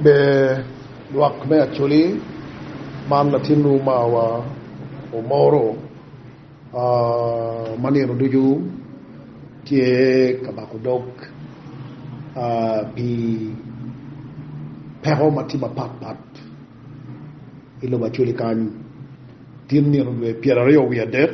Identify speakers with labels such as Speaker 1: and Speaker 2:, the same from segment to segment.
Speaker 1: Ber lwak me Acholi, man latinwu mawa Omoro ma nino ducu tye ka bako dog pi peko ma tye mapat pat i lobo Acholi kany, tin nino dwe pyeraryo wiye adek.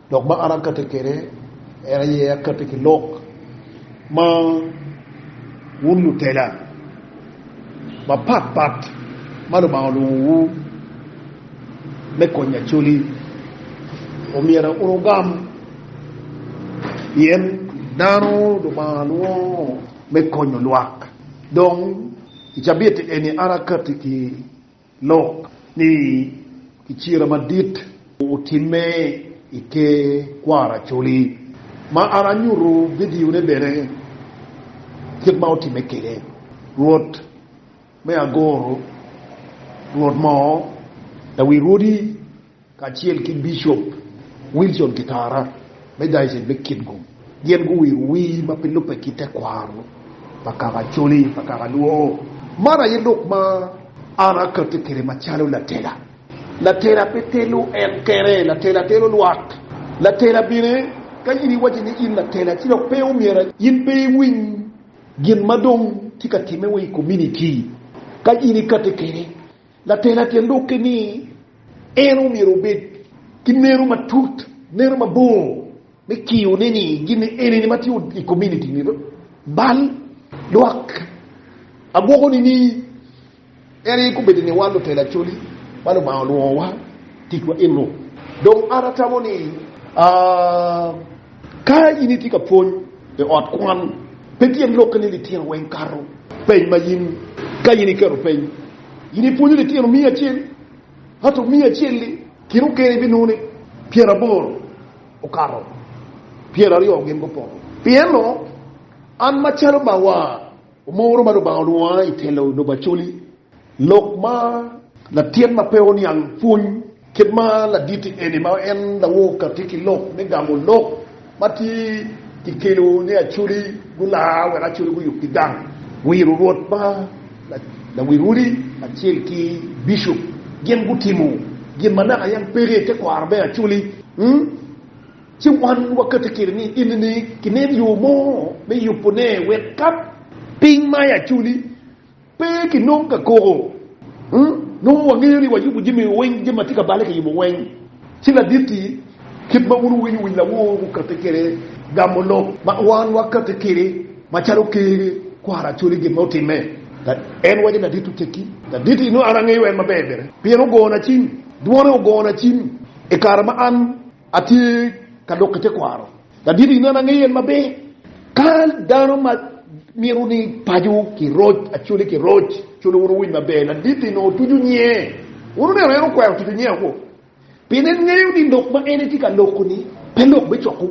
Speaker 1: Lok ma an akatti kwede en aye akatti ki lok ma wun lutela mapat pat ma Lubanga olwongowu me konyo acoli, omyero wugam pien dano Lubanga lwongo me konyo lwak. Dong i cabit eni an akatti ki. lok ni kicira madit otimme i te kwaro Acholi, ma an anyuto vidione bene kit ma otimme kwede. Rwot me Agoro, Rwot mo, Lawi rwodi. kacel ki Bicop Wilson Kitara me Dayoced me Kitgum, gin guwiro wii ma pe lubbe ki tekwaro pa kaka Acholi pa kaka Luo. Man aye lok ma an akati kwede macalo latela. Latela pe telo en kene, latela telo lwak. Latela bene ka in iwaco ni in latela ci dok pe omyero in pe iwiny gin ma dong tye ka timme wa i kominiti ka in ikati kwede. Latena tye lukke ni en omyero obed ki neno matut, neno mabor me kiyo ne ni gin enini ma tye i community ni bal lwak. Agwoko ni ni en aye kobedo ni wan lutela coli ma Lubanga olwongo wa ticwa eno. Dong an atamo ni ka in itye ka pwony i ot kwan pe tye lukke ni litino weng kato peny ma in ka in iketo peny. In ipwonyo litino miya acel, ento miya acel-li kit okene ibinongo ni pyeraboro okato, pyeraryo gin gupoto. Pienno an macalo mawa omoro ma Lubanga olwonga i telo lobo acoli, lok ma latin ma pe oniang pwony. Kit ma laditi eni ma en lawor ka tye ki lok me gamo lok ma tye ki kelo ni Acholi gulaa wek Acholi guyub ki gang. Wiro Rwot ma lawil odi kacel ki Bishop gin gutimo gin ma naka yam peke i tekwaro me Acholi. Ci wan wakati kede ni enini kinen yo mo me yubone wek ka piny ma i Acholi. Pe kinong ka koko. Nongo wangeyo ni wayubo jami weng, jami ma tye ka balle kiyubo weng. Ci ladit-ti, kit ma wun wuwinyo wi lawor gukatti kwede gamo lok ma wan wakatti kwede, macalo ker kwara cwale gin ma otimme. En waco, Ladit-tu tekki. Ladit-ti, nongo an angeyo en maber bene, pien ogona cim, dwone ogona cim i kare ma an atye ka dok i tekwaro. Ladit i nena ngeyo en maber. Ka dano ma mito ni paco ki roc, acoli ki roc, colo wun wuwiny maber, ladit i nongo tuco nyiye. Wun wuneno en okwero tuco nyiye woko. Pien en ngeyo ni lok ma en etye ka loko ni pe lok me coko,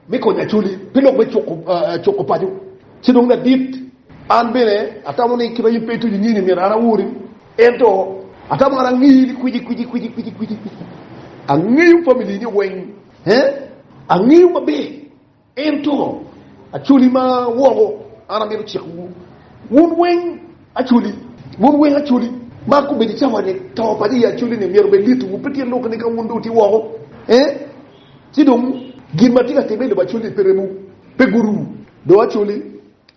Speaker 1: me konyo acoli, pe lok me coko, uh, coko paco. Ci dong ladit, an bene atamo ni kit ma in pe ituco nyini myero an awori. Ento atamo an angeyi ni kwici, kwici, kwici, kwici, kwici, kwici. Angeyo family ni weng. Angeyo maber, ento acwali ma woko, an amito cikowu, wun weng acwali, wun weng acwali, ma ka obedo i cawa-ni, to paco i acwali-ni myero obed litiwu, pe tye lok ni ka wun dong wutye woko, ci dong gin ma tye ka timme i lobo acwali-ni pe remowu, pe guruwu dong acwali.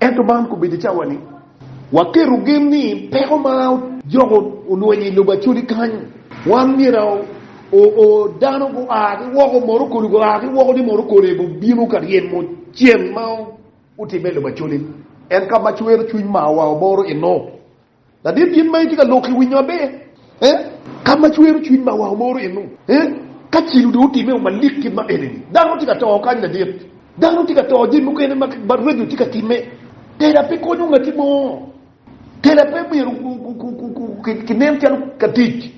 Speaker 1: Ento man kobedo cawa ni waketo gen ni peko ma ojoko olwenyo i lobo Acholi kany, wan myero o dano gua ki woko moto kodi gua ki woko ni moto kodi gubino ka ryemo ceng ma otimme i lobo Acholi. En ka ma cwero cwiny mawa oboro eno Ladit yen ma itye ka lok i winyo maber eh? Ka ma cwero cwiny ma wa omoro in nu eh? Ka cilo dong otime o malik kit ma eni ni, dano tye ka to kany ladit. Dano tye ka to jami mukene ma radio tye ka time. Tela pe konyo ngati mo. Tela pe myero ki nen calo ka tic.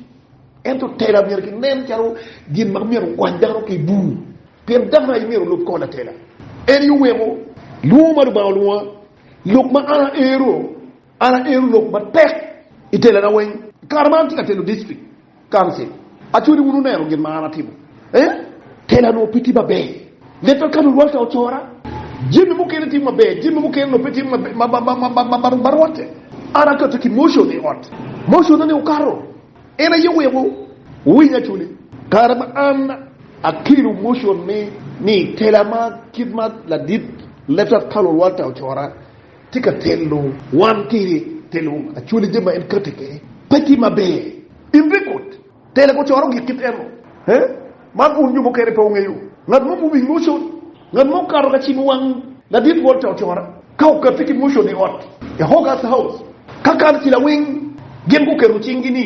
Speaker 1: Ento tela myero ki nen calo gin ma myero okwany dano ki i bur. Pien dano aye myero olub kor latela. Eni oweko lwongo ma Lubanga olwonga, lok ma an aero. An aero lok matek i telana weng. I kare ma an tye ka telo distrik kancil, aco ni wun wuneno gin ma an atimo. Ee, tela onongo pe tye maber. Netwak ka lurwatte ocora, jami mukene tye maber, jami mukene onongo pe tye ma barwatte. An akate ki mocon i ot, moconna-ni okato. En aye oweko wuwiny acoli. Kare ma an akelo mocon-ni ni, tela ma kit ma ladit netwak ka lurwatte ocora, tye ka telo wan ki i telo acwali jami ma en kati kede pe tye ma ber in pe ikut tela ko coro gik kit eno he man un jo mukene pe wungeyo ngat mo muwing motion ngat mo okato ka cimo wang ladit walter ocora ka okati ki motion i ot e hogas house ka kan ci lawing gin guketo cing gi ni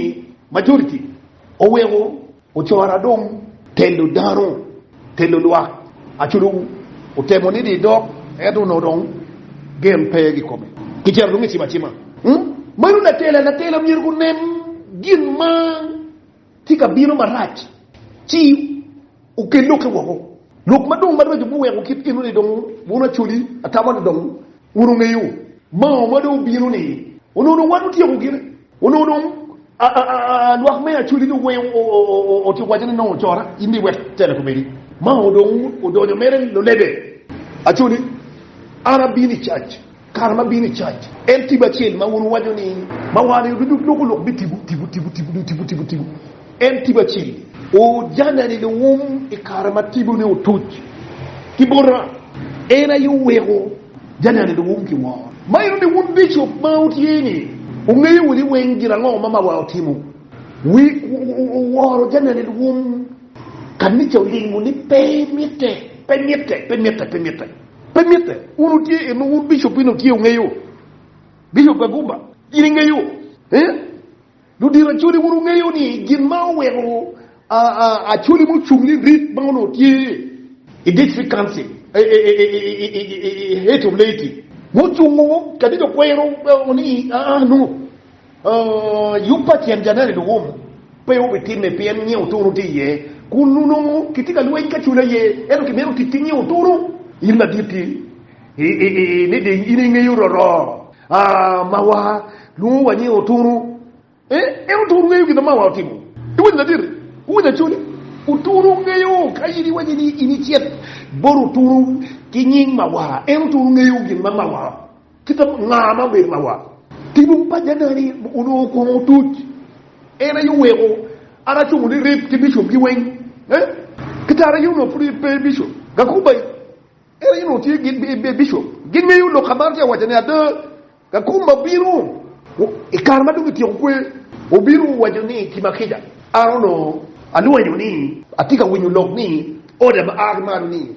Speaker 1: majority oweko Ocora dong telo dano, telo lwak aco dong otemo nido i dog ento onongo dong gen pe i kome kicito dong kicibo acima. Meno latela, latela myero gunen gin ma tye ka bino marac ci okel lokke woko, lok ma dong maraco biweko kit eno ni dong wun Acholi atama ni dong wun wungeyo maongo ma dong obino ni onongo dong wan otyeko gine. Onongo dong lwak me Acoli dong weng otyeko wacce ni nongo ocora, in dong iwek tela komedi. Mao dong odonyo mere lulebe. Acoli, An abino i cac. Kare ma abino i cac, en tipo acel ma wun wuwaco ni mawar-ni oducu doko lok bitibu tibu tibu tibu dong tibu tibu tibu. En tipo acel. Ojana-ni dong oum i kare ma tibone otuc ki bota. En aye oweko Janani dong oum ki woro. Ma enoni wun bicop ma wutye-ni, wungeyo wunu weng gin ango ma mawa otimo. Wi woro janani wun kanica olingo ni pe mitte, pe mitte, pe mitte, pe mitte, pe mitte. Wun wutye eno, wun bicop eni wutye wungeyo, bicop Kagumba, in ingeyo, eh? Ludito Acholi, wun wungeyo ni gin ma oweko Acholi ma ocung ni Rit ma onongo tye i District Council i Heat of Laity ma ocungo kadi dong kwero ni nongo yub pa tyen Janer i Luwum pe obitimme pien nge otunu tye iye kun onongo kitye ka lweny ki Acholi aye ento kimito tic ki nge otunu. In madit-ti, ni deng in ingeyo roroo mawa lwongo wa ni otunu en otunu ngeyo gin mawa otimo iwinyo laditi iwinyo acoli otunu ngeyo ka in iwaco ni in icit bot otunu ki nying mawa en otunu ngeyo gin ma mawa kita nga ma obedo mawa tinu pa janani onongo kong otuc en aye oweko an acungo ni rip ki bishop gi weng kita ara yun onongo pud pe bishop gakubai Ere in onongo tye gin i bicop? Gin weng yo lok ka man tye awaca ni ada ka kom ma bino. I kare ma dong kityeko kwer, obino waco ni ki ma kica, An onongo alwenyo ni atye ka winyo lok ni oda ma a ki malo ni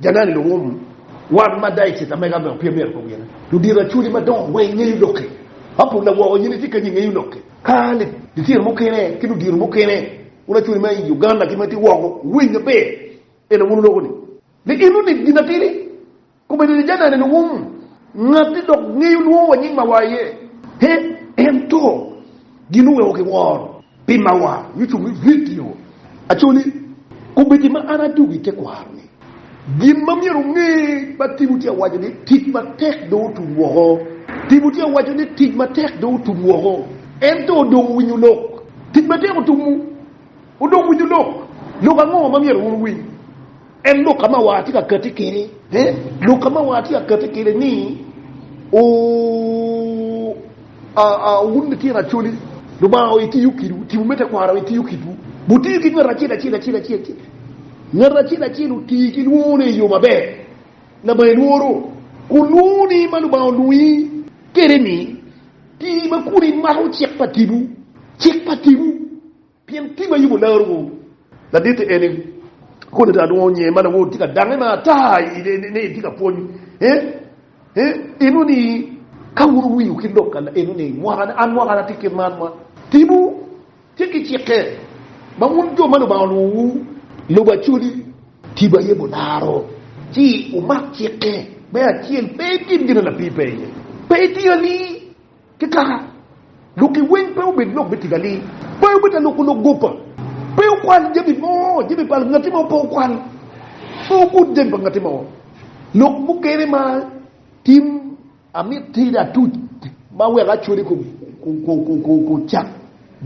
Speaker 1: Janani Luwum wan ma ada i cita mega me opye myero kong gine. Ludito acholi madongo weng ngeyo lok-ki. Apolla woko in itye kenyo ingeyo lok-ki? Ka litino mukene ki ludito mukene, wun acholi ma i Uganda ki ma itye woko, wuwiny maber en aye wun wuloko ni Ni in onit gin atidi, komedo ni janane ni wum ngati dok ngeyo lwongo wa nying mawa aye. He, ento gin oweko kiworo pi mawa nyo cung me vidio. Actually, komedo ma an adwogo i tekwaro ni, gin ma myero onge ma Timothy awaco ni tic matek dong otum woko. Timothy awaco ni tic matek dong otum woko, ento dong owinyo lok. Tic matek otumu. Wudong winyu lok. Lok ango ma myero wun wuwiny? En lok ka ma war tye ka kati kede. Ee, lok ka ma war tye ka kati kede ni, O, a, a, wun litino Acholi, Lubanga o itiyo kidwu, tipo me tekwaro o itiyo kidwu. Wutiyo ki ngat acel acel acel acel acel. Ngat acel acel oti ki lwongone i yo maber. Lama ilworo kun lwongoni ma Lubanga olwongi kede-ni, ti ma kun imako cik pa tipo, cik pa tipo. Pien tim ma yubo laruwu ladit-ti eni, kodi ata adwongo nyer ma lawodu tye ka dange ma ata ni itye ka pwony. Ineno ni, ka wun wuwiu ki lok eno ni, Mwakane, an mwakane atye kit man, ma timwu tye ki cikke, ma wun jo ma Lubanga olwowowu lubo Acholi, tipo aye bularo, ci wumak cikke me acel, pe itye gin ma lapir pe iye, pe itiyo ali. Ki kaka lok-ki weng pe obed lok me tic alir, pe obita loko lok goba, pe okwal jami mo, jami pa ngati mo pe okwal, pe ogud jami pa ngati mo. Lok mukene ma tim amit tida atuc ma weko acwali kucak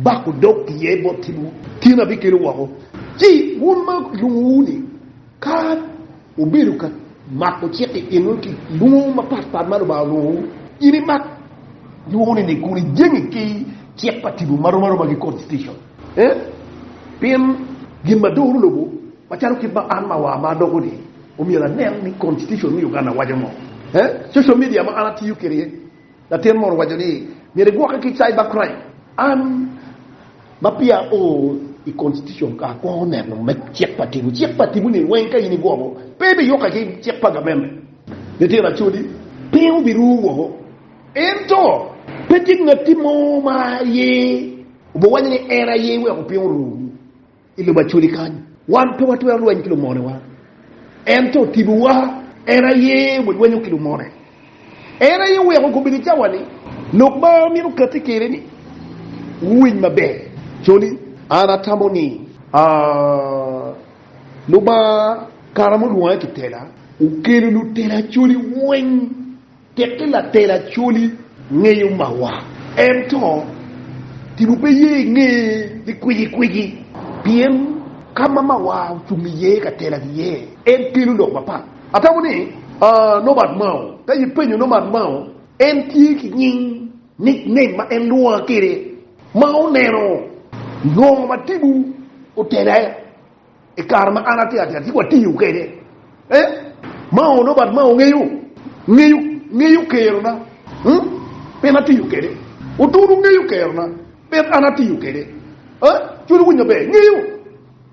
Speaker 1: bako dog iye bot timwu, tin abikelo woko. Ci wun ma kilwongowu-ni. Ka wubedo ka mako cik i kinwu ki lwongo mapat pat ma Lubanga olwongowu, in imak lwongone ni kun ijengi ki cik pa tipo ma rom aroma ki Constitution. Pien gin ma doro lobo, macalo kit ma an ma wa ma adoko-ni, omyero anen ni Constitution me Uganda waco ngo. Social media ma an atiyo kwede. Latin moro owaco ni, Myero igwokke ki cybercrime. An ma peya ao i Constitution ka akwongo neno me cik pa tipo, cik pa tipo ni weng ka in igwoko pe biyukke ki cik pa gameme. Litino Acholi, piny obiru woko. Ento pe tye ngatti mo ma aye obiwaco ni en aye weko piny oru. I lobo Acoli kany, wan pe watwero lweny ki lumonewa. Ento otibowa, en aye walwenyo ki lumone. En aye oweko gubedo cawa-ni. Lok ma amito kati kwede ni, wuwiny maber, Coli, an atamo ni, aa, Lubanga kare ma olwonga ki tela, okelo lutela Acoli weng. Tekki latel Acholi ngeyo mawa ento tipo pe ye inge ni kwiji kwiji pien kama mawa ocung iye ka tela giye en kelo lok mapat. Atamo ni Norbert Mao ka ipenyo Norbert Mao en tye ki nying, nickname, ma en lwonga kwede ma oneno ngo ma tipo otela. I kare ma an atyer atyer ci watiyo kwede, eh, ma onongo bat ma ongeyo, ngeyo, ngeyo kerona, hmm, pien atiyo kwede. Otunu ngeyo kerona, pien an atiyo kwede. Eh, cwiny owinyo maber, ngeyo,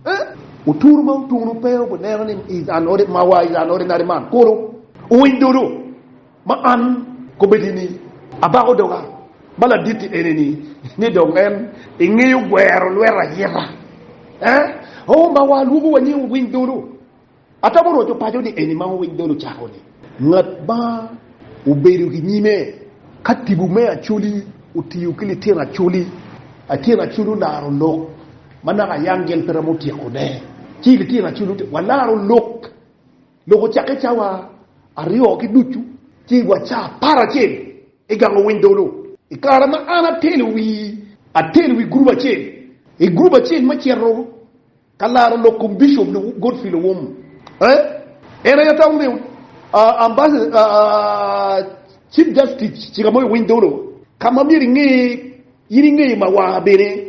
Speaker 1: eh. Otunu ma otunu pe obineno ni is an, ma wa is an ordinary man, kono owiny dodo. Ma an kobbedi ni abako doga ma laditti enini, ni dong en ingeyo gwero lweta ayeta, eh? Oh, ma wa alwogo wa ni wuwiny dolo. Atamo roco paco ni eni ma wuwiny dolo cako ni, ngat ma obedo ki nyime ka tipo me Acholi otiyo ki lityen Acholi, lityen Acholi olaro lok ma naka Yangel pe romo tyeko ne, ci lityen Acholi ote, walaro lok. Lok ocakke cawa aryo ki ducu ci wa ca apar acel i gang owiny dolo. I kare ma an atelo wi atelo wi gurup acel i gurup acel ma cito ka laro lok kom Bishop Godfrey Lowom eh en aye atamo me Chief Justice cika mo i owiny dolo ka ma myero inge in inge ma wa bene.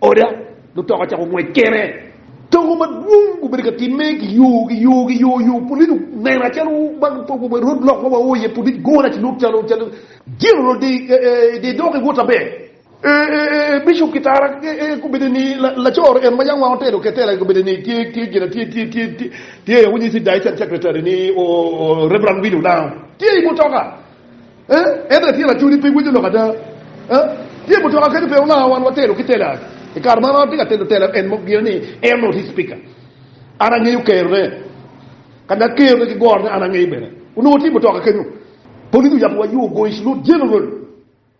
Speaker 1: Oda, mutoka ocako ngwec kene. Togo madwong gubedo ka timme ki yo ki yo ki yo yo. Pulic onena calo road block ma wao iye, pulic gona ci lwok calo calo General de dok iwot aber. Bishop Kitara gubedo ni lacor en ma yam wang otelo ketela gubedo ni tye tye gin a tye tye tye tye aye winyo ci Diocese Secretary ni Rev. Willy Onao tye i mutoka. Ento atye lacul ni pe iwinyo lok ada. Tye mutoka kadi pe olanga wan watelo ki Teller. I kare man an atye ka telo Teller en mo gire ni en oti Spika. An angeyo kerone. Kanya kerone ki gorone an angeyo bene. Onongo tye mutoka kenyo. Polis oyabbiwa yo Goish Lud General.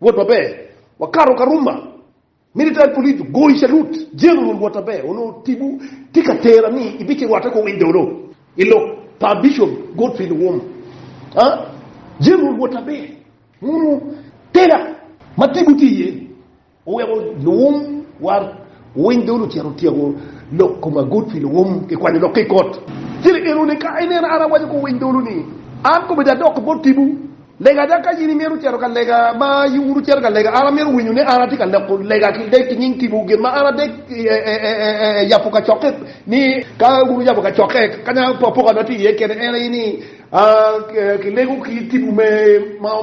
Speaker 1: Wot maber. Wakato Karuma. Military police goyi salut. General Wataber onongo tipo tye ka tera ni ibicirwatte kong i dolo i lok pa Bishop Godfrey Luwum. Aa, General Wataber onongo tera ma tipo tye iye ni oweko Luwum wa owiny dolo ocito otyeko lok koma Godfrey Luwum kikwanyo lok ki i kot. Cen enoni ka inena an awaco ki owiny dolo ni an komedo adok bot tipo. Lega ada ka in imito cito ka lega ma iwuro cito ka lega, an amito winyo ni an atye ka leko lega ki dek ki nying tipo gin ma an adek yabo kacokke ni ka wun wuyabo kacokke kanya apoka na tye iye kene en aye ni ki lego ki tipo me ma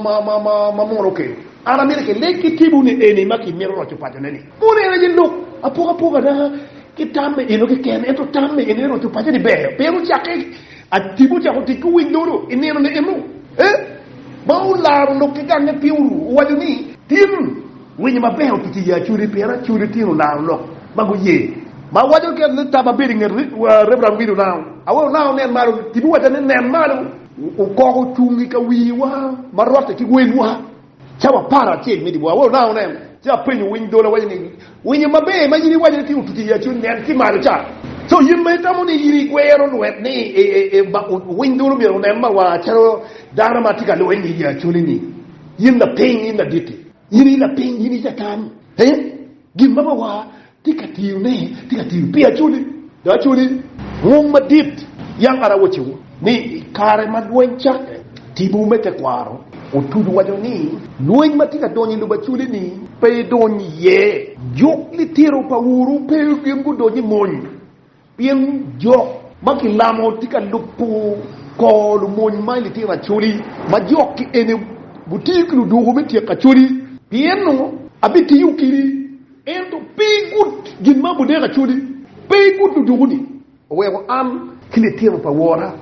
Speaker 1: munu okelo an amito ki leg ki tipo ni eni ma ki mito roco paco ne ni mono en aye lok apoka apoka na ki tam me eno keken ento tam me eno me roco paco ni ber pien wucakke Atibu ocako tic ki wic loro i nino ni eno. E, ma olaro lok ki gange pi uru, owaco ni. Tin, winyo maber otuco iye acudi, pien acudi tin olaro lok ma guye. Ma waco kene ni tam abedo i nget Reverend Will Onao. Awe Onao onen malo. Tibu owaca ni, Nen malo. Okoko ocung i ka wiwa ma rotte ki welwa. Cawa apar acel me dyewor, awor nano neno ci apenyo winy dolo, awaco ni, Winyo maber ma in iwaco ni tye otuc i acu, nen ki malo ca. Co in ma itamo ni in igwero lwet ni winy dolo myero onen mawa calo dano ma tye ka lweny i acoli-ni, in lapiny, in ladit-ti, in i lapiny, in i Catan, ee? Gin ma Bawa tye ka tiyone tye ka tiyo pi aculi. Dong aculi ngum madit. Yam an awacciwu ni, i kare ma lweny cakke, timwu me tekwaro otuco waco ni, 'Lweny ma tye ka donyo i lobo aculi-ni pe idony iye. Juk litino pa wuru pe gin gudonyo i mony. Pien jo ma kilamo tye ka lubo kor lumony ma i litino acholi, ma jokki ene gutiyo ki ludwogo me tyeko acholi. Pienno abitiyo keni, ento pe i gut gin ma abudeko acholi, pe i gut ludwogo-ni. Oweko an ki litino pa wora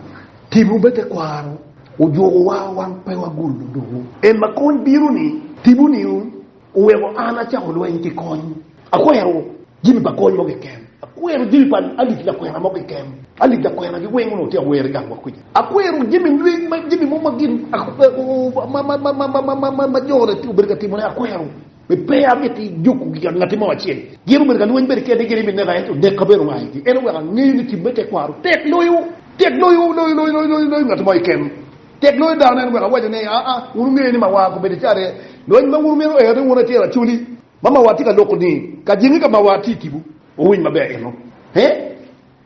Speaker 1: timo me tekwaro, ojukowa wang pe wagul ludwogo. En ma kony bino-ni timo niu? Oweko an acako lweny ki kony. Akwero jami pa kony mo keken. Akwero jami pa alip lakwena mo keken. Alip lakwena gi weng onongo tye ka wer i gang wa kuca. Akwero jami lweny ma jami mo ma gin ma jo ne obedo ka timone akwero. Mi pe amiti juku gi ka ngati mo acel. Gin obedo ka lweny bene kene gin imi neka ento nekka bene oa igi. En oweko angeyo ni tim me tekwaro tek loyo, tek loyo, loyo, loyo, loyo, loyo ngati mo keken. Tek loyo dano en wek awaco ni, aa, wun wungeyo ni mawa ko bedo care. Lweny ma wun wumito ero ni wun acel acoli ma mawa tye ka loko ni ka jenge ka mawa tye i kibu. Wuwiny maber eno. He?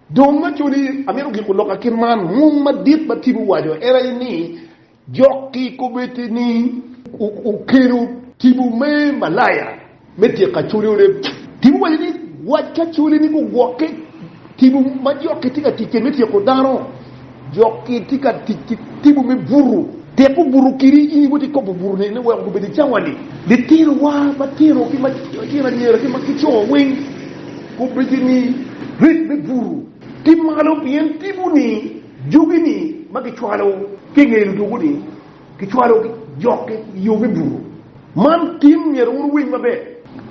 Speaker 1: Dong acoli amito giko lok a kit man. Mung madit ma Tibu owaco en aye ni, Jok ki kobeddi ni, Wukelo Tibu me Malaya. me tyeko acoli oleb. Tipo waco ni wac ki acoli ni gugwokke. Tipo ma jokki tye ka tic kwede me tyeko dano, jokki tye ka tic ki tipo me buto. Tyeko buto kidi in iwoti ikobo buto ni ni weko gubed i cawani. Litinowa matino ki matino anyira ki ma ki co weng gubedi ni rit me buto ki malo pien tipo ni jogi ni ma gicwalo ki nge luduku ni. Kicwalo jokki i yo me buto. Man tim myero wun wuwiny maber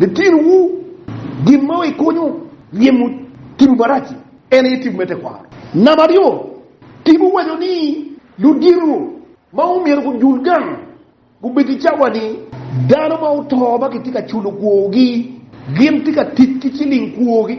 Speaker 1: litinowu. Gin ma ikonyo ryemo timwu marac-ci en aye timwu me tekwaro. Namba aryo, timwu waco ni ludito ma omyero gujul gang gubed ki cawa ni dano ma oto ma kitye ka culo kwogi gin tye ka tic ki ciling kwogi.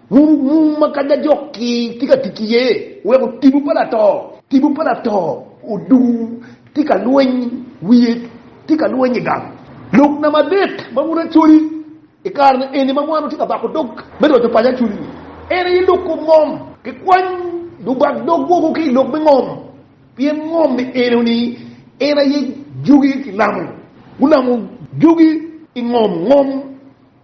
Speaker 1: Muru mung ma kany ajok-ki tye ka tic iye weko tipo pa lato. Tipo pa lato odung tye ka lweny, wiye tye ka lweny i gang. Lok namba adek ma wun Acholi i kare-ni eni ma wan watye ka bako dog me roco paco Acholi-ni, en aye lok kom ngom. Kikwany lubak dog woko ki i lok me ngom, pien ngom ni enoni en aye jogi kilamo. Gulamo jogi i ngom ngom.